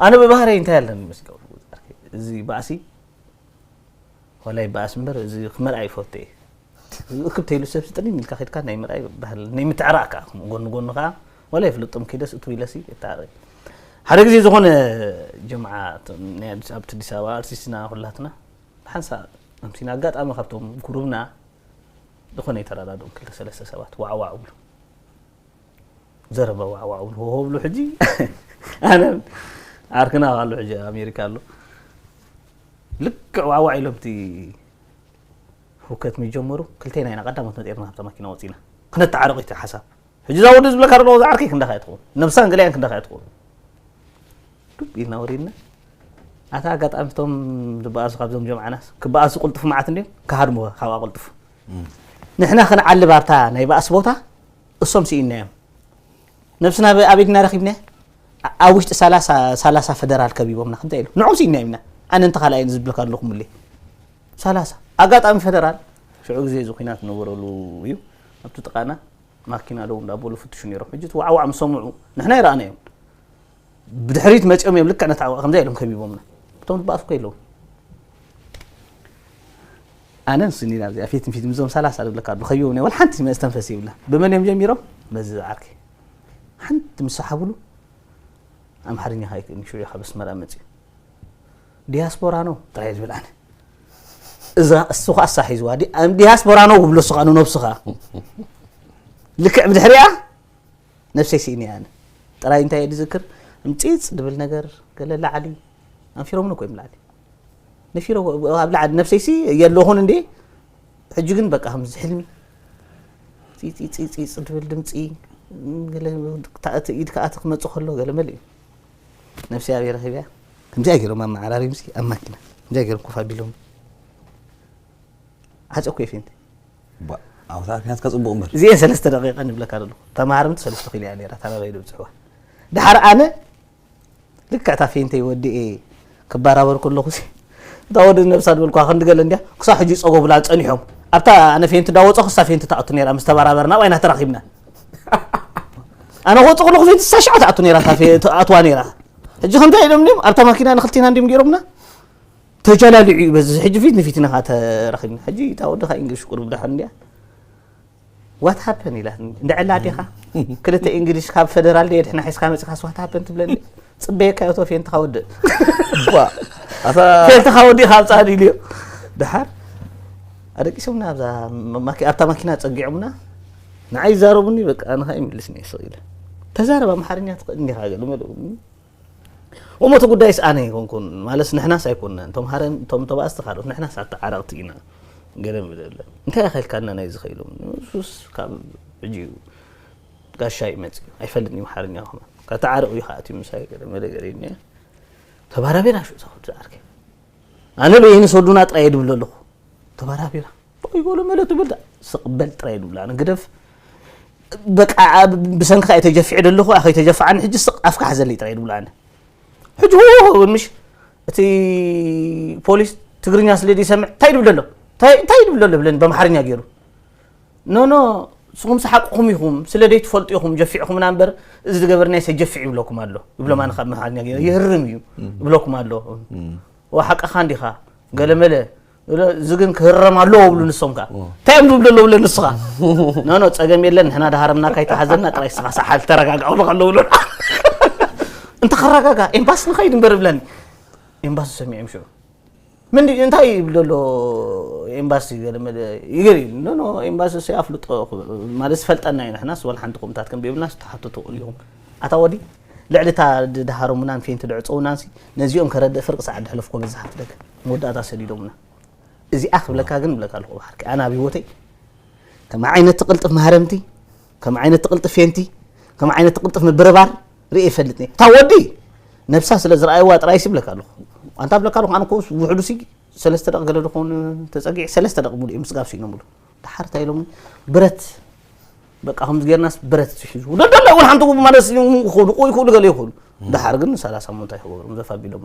ኣነ ብባህረይ እንታይ ኣለኒ መስለኩም እዚ ባእሲ ዋላ ይበኣስ እምበር እዚ ክመርኣ ይፈቱ እየ እክብ ተይሉ ሰብ ስጥልኝ ኢልካ ከድካ ናይ ምርኣይ ባህል ናይ ምትዕራእ ከዓ ከምኡ ጎኒ ጎኒ ከዓ ዋላ ይፍልጦም ከይደስ እቱ ኢለሲ እታረይ ሓደ ግዜ ዝኾነ ጀምዓ ናይ ኣዲስ ኣብቲ ኣዲስ ኣበባ ኣርቲስትና ኩላትና ሓንሳ ኣምሲና ኣጋጣሚ ካብቶም ጉሩብና ዝኾነ የተረዳድኦም ክልተ ሰለስተ ሰባት ዋዕዋዕ ብሉ ዘረባ ዋዕዋዕ ብሉ ሆሆ ብሉ ሕጂ ኣነ ዓርክና ኣሎ ሕጂ ኣሜሪካ ኣሎ ልክዕ ዋዕዋዕ ኢሎም እቲ ህውከት ምጀመሩ ክልቴና ኢና ቀዳሞት መጤርና ካብታ ማኪና ወፂና ክነተዓረቕ እቲ ሓሳብ ሕጂ እዛ ወዲ ዝብለካ ደለዎ ዝዓርከ ክንዳኻ እያ ትኸውን ነብሳን ገለያን ክንዳኻ እያ ትኸውን ዱብ ኢልና ወሪድና ኣታ ኣጋጣሚ እቶም ዝበኣሱ ካብዞም ጀምዓናስ ክበኣሱ ቁልጡፍ መዓት እንዲዮም ክሃድሙኻ ካብኣ ቁልጡፍ ንሕና ክንዓልብ ኣብታ ናይ ባእሲ ቦታ እሶም ስኢንናዮም ነብስና ኣበይ ድና ረኺብና ኣብ ውሽጢ ሰላሳ ፈደራል ከቢቦምና ከምታይ ኢሉ ንዑም ስኢና ኢልና ኣነ እንተ ካልኣይ ዝብልካ ኣለኹ ምል ሰላሳ ኣጋጣሚ ፈደራል ሽዑ ግዜ እዚ ኩናት ነበረሉ እዩ ኣብቲ ጥቃና ማኪና ደው እንዳበሉ ፍትሹ ነይሮም ሕጂ ዋዕዋዕ ምስ ሰምዑ ንሕና ይረኣና እዮም ብድሕሪት መፂኦም እዮም ልክዕ ነታ ከምዛ ኢሎም ከቢቦምና እቶም ድበኣሱ ከ ኣለዉ ኣነ ንሱ ኒና ኣብዚኣ ፊት ንፊት ምዞም ሰላሳ ዝብለካ ኣሎ ከይበ ናይ ወልሓንቲ መስተንፈስ ይብላ ብመን እዮም ጀሚሮም በዚ ዝዓርከይ ሓንቲ ምስ ሰሓብሉ ኣምሓርኛ ካይክእልኒ ሽዑ ካብ ኣስመራ መፅኡ ዲያስፖራ ነው ጥራይ ዝብል ኣነ እዛ እሱ ከዓ እሳ ሒዝዋ ዲያስፖራ ነው ክብሎ እሱ ከዓ ንነብሱ ከዓ ልክዕ ብድሕሪያ ነብሰይ ስኢኒ ኣነ ጥራይ እንታይ እየ ዝዝክር ምፂፅ ድብል ነገር ገለ ላዕሊ ኣንፊሮምኒ ኮይም ላዕሊ ነፊረ ኣብ ላዕሊ ነብሰይሲ የለኹን እንዴ ሕጂ ግን በቃ ከምዚ ሕልሚ ፂፂፂፂፅ ድብል ድምፂ ገለ ኢድ ከዓ ክመፅእ ከሎ ገለ መለ እዩ ነብሰይ ኣብየ ረኺብያ ከምዚኣ ገይሮም ኣመዓራሪም ሲ ኣብ ማኪና ከምዚኣ ገይሮም ኮፍ ኣቢሎም ዓፀኩ እየ ፌንቲ ኣብታ ክንያትካ ፅቡቅ እምበር እዚኤን ሰለስተ ደቂቃ ንብለካ ዘለኹ ተማሃርምቲ ሰለስተ ኪሎ እያ ነራ ታናበይ ድብፅሕዋ ድሓር ኣነ ልክዕ እታ ፌንተይ ወዲኤ ክበራበር ከለኹሲ እታ ወዲ ነብሳ ዝበልኩዋ ክንዲ ገለ እንድያ ክሳብ ሕጂ ይጸጎቡላ ጸኒሖም ኣብታ ኣነ ፌንቲ ዳወጸኹ እሳ ፌንቲ ትኣቱ ነይራ ምስ ተበራበርና ባይና ተራኺብና ኣነ ክወጽእ ከለኹ ፌንቲ እሳ ሽዓ ትኣቱ ነይራ ትኣትዋ ነይራ ሕጂ ከምታይ ኢሎም ድም ኣብታ ማኪና ንክልቴና እንዲም ገይሮምና ተጀላሊዑ እዩ በዚ ሕጂ ፊት ንፊትና ተራኺብና ሕጂ እታ ወዲ ካብ ኢንግሊሽ ቁርብ ዳሓን እንድያ ዋት ሃፐን ኢላትኒ እንድዒ ኣላ ኣዴኻ ክልተ እንግሊሽ ካብ ፈደራል ድየ ድሕና ሒዝካ መጺኻስ ዋት ሃፐን ትብለኒ ጽበየካ እቶ ፌንትኻ ወድእ ፌንትኻ ወዲእኻ ኣብጻኒ ኢልዮ ድሓር ኣደቂሶምና ኣብታ ማኪና ጸጊዖምና ንዓይ ይዛረቡኒ በቃ ንኻ ይምልስኒ ስቕ ኢለ ተዛረብ ኣምሓርኛ ትኽእል እንዲኻ ገለ መለ እሞ እቲ ጉዳይስ ኣነ ኣይኮንኩን ማለስ ንሕናስ ኣይኮንናን እቶም ሃረም እቶም ተባእስቲ ካልኦት ንሕናስ ኣተዓረቕቲ ኢና ገለ ምደለ እንታይ ኣኸልካና ናይ ዝኸኢሉ ንሱስ ካብ ሕጂ እዩ ጋሻ ይመፅእ ኣይፈልጥ እዩ ሓርኛ ከማ ከተዓርቕ እዩ ከኣትዩ ምሳይ ገለ መለ ገለ እኒ ተባራቢራ ሹ እዛ ዓርከይ ኣነ በይኒ ሰዱና ጥራይ ድብለ ኣለኹ ተባራቢራ ጦይ በሉ መለ ትብል ስቕ በል ጥራይ ድብላ ንግደፍ በቃ ብሰንኪ ኣይ ተጀፊዐ ደለኹ ኣኸይ ተጀፋዓኒ ሕጂ ስቕ ኣፍካ ሓዘለይ ጥራይ ድብላ ሕጂ ሆ ምሽ እቲ ፖሊስ ትግርኛ ስለ ዘይሰምዕ እንታይ ድብል ደሎ እንታይ ድብል ደሎ ብለን በምሓርኛ ገይሩ ኖኖ ንስኹም ሰሓቅኹም ኢኹም ስለ ዘይትፈልጡ ኢኹም ጀፊዕኹምና እምበር እዚ ዝገበርና ሰጀፊዕ ይብለኩም ኣሎ ይብሎም ኣነ ካብ መሓርኛ ገይሩ ይህርም እዩ ይብለኩም ኣሎ ወሓቅኻ እንዲኻ ገለመለ እዚ ግን ክህረም ኣለዎ ብሉ ንሶም ከ እንታይ እዮም ዝብሉ ኣለዉ ብለ ንስኻ ኖኖ ፀገም የለን ንሕና ዳሃረምና ካይተሓዘና ጥራይ ስኻ ሰሓል ተረጋጋ ክብለካ ኣለዉ ብሎ እንተ ከረጋጋ ኤምባሲ ንኸይድ እምበር ብለኒ ኤምባሲ ሰሚዖም ሽዑ ምን እንታይ ይብል ዘሎ ኤምባሲ ገለመለ ይገሪ ኖኖ ኤምባሲ ሰ ኣፍልጦ ማለት ዝፈልጠና እዩ ንሕናስ ዋላ ሓንቲ ቁምታት ከም ብየብልና ዝተሓቶ ትኽእሉ ኢኹም ኣታ ወዲ ልዕሊ እታ ድሃሮምናን ፌንቲ ድዕፀውናንሲ ነዚኦም ከረድእ ፍርቂ ሰዓት ድሕለፍኮ በዛሓት ደገ መወዳእታ ሰዲዶሙና እዚኣ ክብለካ ግን እብለካ ኣለኹ ብሓርቂ ኣነ ኣብ ህይወተይ ከም ዓይነት ትቕልጥፍ ማህረምቲ ከም ዓይነት ትቕልጥፍ ፌንቲ ከም ዓይነት ትቕልጥፍ ምብርባር ርእየ ይፈልጥ እታ ወዲ ነብሳ ስለ ዝረኣይዋ ጥራይ ሲ ብለካ ኣለኹ ኣንታ ብለካ ኣለኹ ኣነ ኮ ውሕዱ ሲ ሰለስተ ደቂ ገለ ድኾን ተፀጊዕ ሰለስተ ደቂ ሙሉ እዮም ስጋብ ስኢኖምሉ ድሓር እንታይ ኢሎምኒ ብረት በቃ ከምዚ ጌርናስ ብረት ትሒዙ ደደለ እውን ሓንቲ ማለት ይኽእሉ ቆይ ይኽእሉ ገለ ይኽእሉ ድሓር ግን ሰላሳ ሞንታ ይኽበሩ ዘፋቢሎም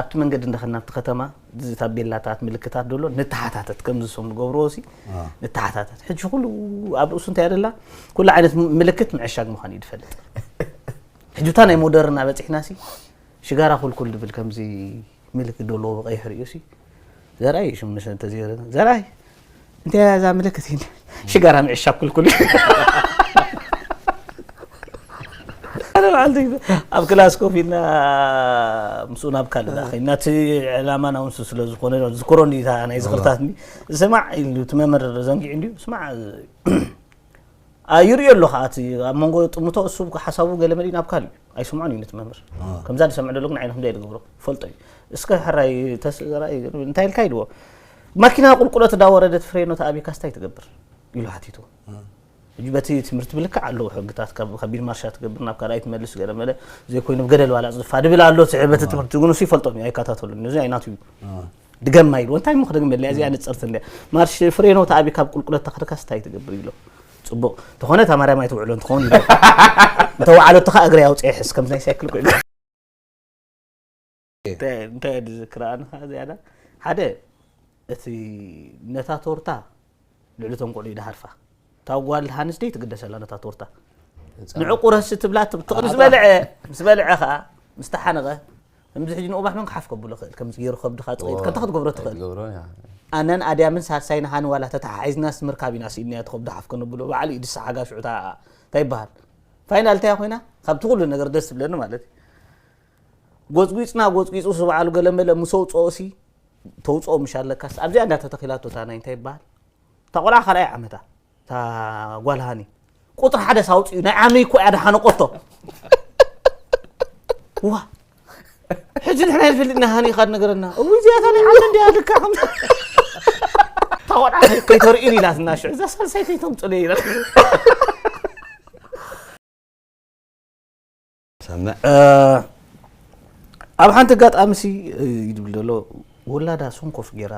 ኣብቲ መንገዲ እንዳ ከድና ኣብቲ ከተማ እዚ ታቤላታት ምልክታት ደሎ ንተሓታተት ከምዚ ሶም ንገብርዎሲ ንተሓታተት ሕጂ ኩሉ ኣብ ርእሱ እንታይ ኣደላ ኩሉ ዓይነት ምልክት ምዕሻግ ምዃኑ እዩ ዝፈልጥ ሕጂ እታ ናይ ሞደርን ኣበፂሕናሲ ሽጋራ ኩልኩል ድብል ከምዚ ምልክት ደሎ ብቀይሕ ርእዩሲ ዘርኣይ እዩ ሽሙ ንሰ እንተዘይረ ዘርኣይ እንተ እዛ ምልክት ሽጋራ ምዕሻብ ክልኩል ኣብ ክላስ ኮፍ ኢልና ምስኡ ናብ ካልእ ዳኸይና እቲ ዕላማ ናውንሱ ስለ ዝኾነ ዝክሮ ናይ ዝኽርታት ስማዕ ኢሉ እቲ መምህር ዘንጊዑ እንዲዩ ስማዕ ይርእዮ ኣሎ ከዓ እቲ ኣብ መንጎ ጥምቶ እሱ ሓሳቡ ገለ መሊእ ናብ ካልእ እዩ ኣይስምዖን እዩ ነቲ መምህር ከምዛ ዝሰምዕ ደሎ ግን ዓይነ ከምዚ ኣይዝገብሮ ፈልጦ እዩ እስከ ሕራይ ተስራይ እንታይ ኢልካ ኢልዎ ማኪና ቁልቁለት እንዳወረደት ፍሬኖ ተኣብካ ስታይ ትገብር ኢሉ ሓቲቱ ሕጂ በቲ ትምህርቲ ብልክዕ ኣለዎ ሕግታት ካብ ከቢድ ማርሻ ትገብር ናብ ካልኣይ ትመልስ ገለ መለ ዘይኮይኑ ገደል ባላፅ ዝፋ ድብል ኣሎ በቲ ትምህርቲ ግን እሱ ይፈልጦም እዩ ኣይከታተሉን እዚ ኣይናቱ እዩ ድገማ ኢልዎ እንታይ እሞ ክደግመለይ ኣዚኣ ንጽርቲ እንድያ ማርሽ ፍሬኖ ተኣቢ ካብ ቁልቁለት ተኽርካስ እንታይ ትገብር ኢሎ ጽቡቕ ተኾነ እታ ማርያም ኣይትውዕሎ እንትኸውን ኢሎ እንተ ወዓለቶ ከዓ እግሪ ኣውፅኤ ሕስ ከምዚ ናይ ሳይክል ኮይኑ እንታይ ድዝክራ ኣነ ከዓ ዝያዳ ሓደ እቲ ነታ ቶርታ ልዕሊ እቶም ቆልዑ ይድሃርፋ እታ ጓል ሃንስ ደይ ትግደስ ኣላ ነታ ቶርታ ንዑ ቁረሲ ትብላ ትቕሪ ምስ በልዐ ምስ በልዐ ከዓ ምስ ተሓነቐ ከምዚ ሕጂ ንኡባሕ መን ክሓፍ ከብሎ ክእል ከምዚ ገይሩ ከብድኻ ጥቕይት ከንታ ክትገብሮ ትኽእል ኣነን ኣድያምን ሳልሳይን ሃኒ ዋላ ተተሓሒዝናስ ምርካብ ኢና ስኢንያ ትኸብዶ ሓፍ ከነብሎ በዓሉ እዩ ድሳ ሓጋ ሽዑ እንታይ ይበሃል ፋይናል እንታይ ኮይና ካብቲ ኩሉ ነገር ደስ ትብለኒ ማለት እዩ ጎፅጒፅና ጎፅጒፁ ዝበዓሉ ገለመለ ምስ ኣውፅኦሲ ተውጽኦ ምሽ ኣለካስ ኣብዚኣ እንዳ ተተኺላቶ እታ ናይ እንታይ ይበሃል እታ ቆልዓ ካልኣይ ዓመታ እታ ጓል ሃኒ ቁጥሪ ሓደ ሳውፅኡ ናይ ዓሚ እኮ እያ ድሓነቆቶ ዋ ሕጂ ንሕና ይፈልጥና ሃኒ ካድ ነገረና እው እዚኣታ ናይ ዓሚ እንዲያ ልካ ከምዚ እታ ቆልዓ ከይተርእዩን ኢላትና ሽዑ እዛ ሳልሳይ ከይተምፅሉ ኢላ ሰምዕ ኣብ ሓንቲ ኣጋጣሚ ሲ ይድብል ዘሎ ወላዳ ሰንኮፍ ጌራ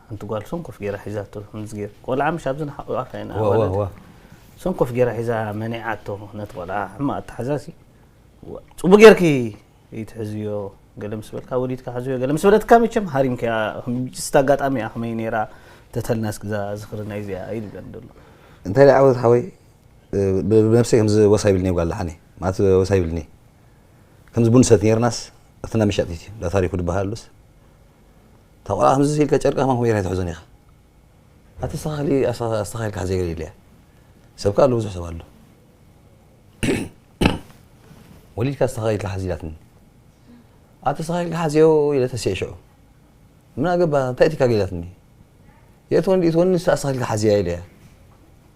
ሓንቲ ጓል ሰንኮፍ ጌራ ሒዛቶ ከምዚ ጌር ቆልዓ ምሽ ኣብዚ ንሓቑቃ ከይና ሰንኮፍ ጌራ ሒዛ መኒዓቶ ነቲ ቆልዓ ሕማቕ ኣተሓዛ ሲ ፅቡቅ ጌርኪ ይትሕዝዮ ገለ ምስ በልካ ወሊድካ ሕዝዮ ገለ ምስ በለትካ መቸም ሃሪምክያ ስቲ ኣጋጣሚ እያ ከመይ ነይራ ተተልና እስኪ ዝኽሪ ናይ እዚኣ ይድብለን ደሎ እንታይ ደኣ ዓወት ሓወይ ብነብሰይ ከምዚ ወስ ኣይብልንየ ጓል ደሓንየ ማለት ወስ ኣይብልንየ ከምዚ ቡን ንሰቲ ኔርናስ እቲ እንዳ መሻጢት እዩ እንዳ ታሪኩ ድበሃል ኣሉስ እታ ቆልዓ ከምዚ ኢልካ ጨርቂ ከማን ከምኡ ጌርካ ኣይትሕዞን ኢኻ ኣቲ ኣስተኻኽሊ ኣስተኻኺልካ ሕዘ ገለ ኢለያ ሰብ ከኣ ኣሎ ብዙሕ ሰብ ኣሎ ወሊድካ ኣስተኻኺልካ ሓዝ ኢላትኒ ኣቲ ኣስተኻኺልካ ሓዝዮ ኢለ ተሲዐ ሽዑ ምን ኣገባ እንታይ እቲካ ገላትኒ የእትወኒ ድእትወኒ ንሳ ኣስተኻኺልካ ሓዝያ ኢለያ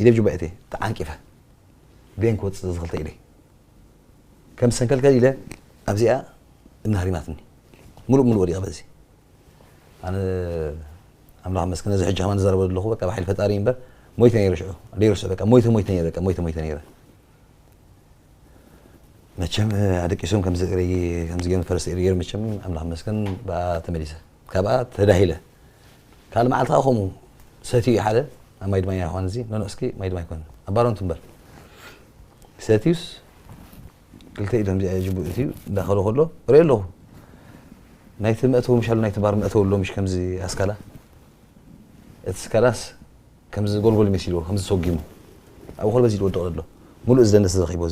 ኢደይ ብጁባኤተይ ተዓንቂፈ ብየን ክወጽእ ዘዝኽልተ ኢደይ ከም ሰንከልከል ኢለ ኣብዚኣ እምኒ ሃሪማትኒ ምሉእ ምሉእ ወዲቐ በዚ ኣነ ኣምላኽ መስክን ነዚ ሕጂ ከማን ዝዛረበ ዘለኹ በቃ ብሓይሊ ፈጣሪ እምበር ሞይተ ነይረ ሽዑ ደይርስዑ በቃ ሞይተ ሞይተ ነይረ በቃ ሞይተ ሞይተ ነይረ መቸም ኣደቂሶም ከምዚ እርይ ከምዚ ገይሮም ፈረስ እርይ መቸም ኣምላኽ መስክን ብኣ ተመሊሰ ካብኣ ተዳሂለ ካልእ መዓልቲ ከኣ ከምኡ ሰትዩ ሓደ ኣብ ማይ ድማኛ ይኾን እዚ ኖኖ እስኪ ማይ ድማይ ኮን ኣብ ባሮ እንትንበር ሰትዩስ ክልተ ኢዶም እዚኣ ጅቡ እትዩ እንዳኸሎ ከሎ ርኢ ኣለኹ ናይቲ መእተዊ ምሻሉ ናይቲ ባር መእተዊ ኣሎ ምሽ ከምዚ ኣስካላ እቲ ስካላስ ከምዚ ጎልጎል መሲልዎ ከምዚ ሰጊሙ ኣብኡ ከሎ በዚ ዝወድቕ ዘሎ ሙሉእ እዚ ደንደስ ዘኺቦ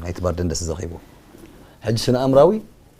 ናይቲ ባር ደንደስ ዘኺቦ ሕጂ ስነ ኣምራዊ